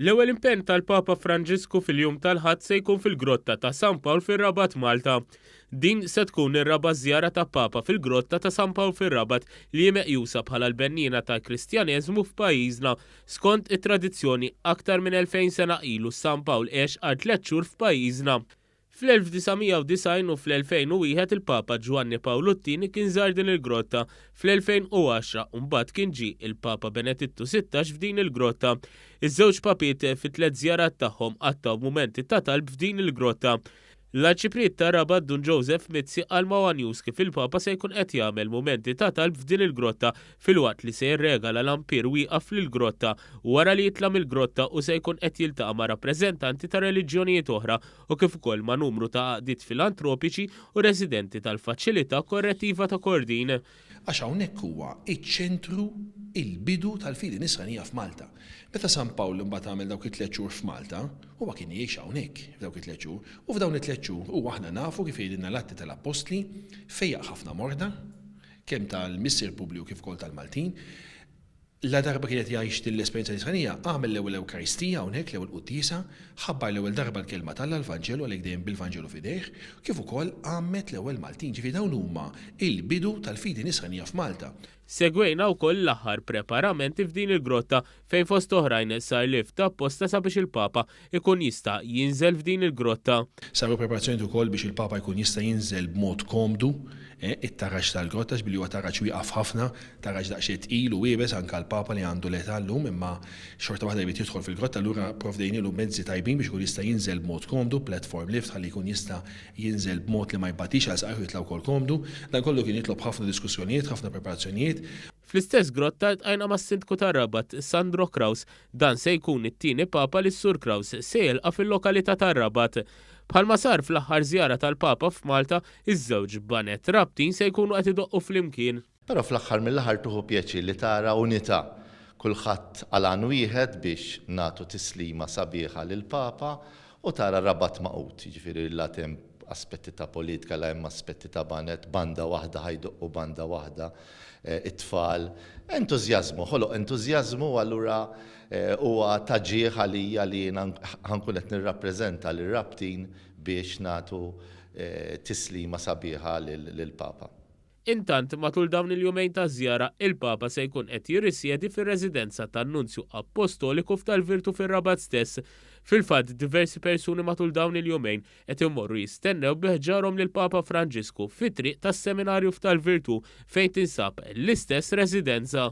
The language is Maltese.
L-ewwel impenn tal-Papa Franġisku fil-jum tal-Ħadd se jkun fil-Grotta ta' San Pawl fir-Rabat Malta. Din se tkun ir-raba' żjara ta' Papa fil-Grotta ta' San Pawl fir-Rabat li hi meqjusa bħala l-benniena tal-Kristjaneżmu f'pajjiżna. Skont it-tradizzjoni, aktar minn 2000 sena ilu San Pawl għex għal tliet xhur f'pajjiżna. Fl-1990 u fl-2001 il-Papa Ġwanni Pawlu t-Tieni kien żar din il-grotta, fl-2010 u mbagħad kien ġie il-Papa Benedittu Sittax f'din il-grotta. Iż-żewġ Papiet fit-tliet żjarat tagħhom qattgħu mumenti ta' talb f'din il-grotta. L-Arċipriet ta' Rabat Dun Joseph Mizzi qal ma' one News kif il-Papa se jkun qed jagħmel mumenti ta' talb f'din il-grotta filwaqt li se jirregala lampir wieqaf fl-grotta u wara li jitla' mill-grotta u se jkun qed jiltaqa' ma' rappreżentanti ta' reliġjonijiet oħra u kif ukoll ma' numru ta' għaqdiet filantropiċi u residenti tal-Faċilità Korrettiva ta' Kordin. Għax hawnhekk huwa ċ-ċentru, il-bidu tal-fidi nisranija f'Malta. Meta San Pawl imbagħad għamel dawk it-tliet xhur f'Malta, huwa kien jgħix hawnhekk f'dawk it-tliet xhur u f'dawn it-tliet xhur huwa aħna nafu kif jgħidilna l-Atti tal-Appostli fejjaq ħafna morda, kemm tal-Missier Publiju kif ukoll tal-Maltin, ladarba kien qed jgħix din l-esperjenza nisranija, għamel l-ewwel Ewkaristija hawnhekk, l-ewwel Quddiesa, ħabbar l-ewwel darba l-Kelma t'Alla, l-Vanġelu, għalhekk dejjem bil-Vanġelu f'idejh, kif ukoll għammed l-ewwel Maltin. Ġifieri dawn huma l-bidu tal-fidi nisranija f'Malta. Segwejna wkoll l-aħħar preparamenti f'din il-grotta fejn fost oħrajn sar lift apposta sabiex il-Papa jkun jista' jinżel f'din il-grotta. Saru preparazzjonijiet ukoll biex il-Papa jkun jista' jinżel b'mod komdu it-taraġ tal-grotta għax billi huwa taraġ wieqaf ħafna, taraġ daqsxejn tqil u iebes anke għal Papa li għandu l-età llum imma xorta waħda jrid jidħol fil-grotta allura pprovdejnielu mezzi tajbin biex ikun jista' jinżel b'mod komdu, platform lift ħalli jkun jista' jinżel b'mod li ma jbattix għal saqajh u jitla' wkoll komdu. Dan kollu kien jitlob ħafna diskussjonijiet, ħafna preparazzjonijiet. Fl-istess grotta ltqajna mas-Sindku tar-Rabat, Sandro Kraus. Dan se jkun it-tieni Papa li s-Sur Kraus se jilqa' fil-lokalità tar-Rabat. Bħalma sar fl-aħħar żjara tal-Papa f'Malta, iż-żewġ baned Rabtin se jkunu qed idoqqu flimkien. Però fl-aħħar mill-aħħar tieħu pjaċir li tara unità, kulħadd għal għan wieħed biex nagħtu tislima sabiħa lill-Papa U tara r-Rabat magħqud, jiġifieri la qed hemm aspetti ta' politika, la hemm aspetti ta' baned, banda waħda ħa jdoqqu banda waħda t-tfal. Entużjażmu, ħoloq entużjażmu u allura huwa ta' ġieħ għalija li jiena ħa nkun qed nirrappreżenta lir-Rabtin biex nagħtu tislima sabiħa lill-Papa. Intant, matul dawn il-jumejn taż-żjara, il-Papa se jkun qed jirrisjedi fir-residenza tan-Nunzju Appostoliku f'Tal Virtu fir-Rabat stess. Fil-fatt, diversi persuni matul dawn il-jumejn qed imorru jistennew bi ħġarhom lill-Papa Franġisku fit-triq tas-Seminarju f'Tal Virtu fejn tinsab l-istess residenza.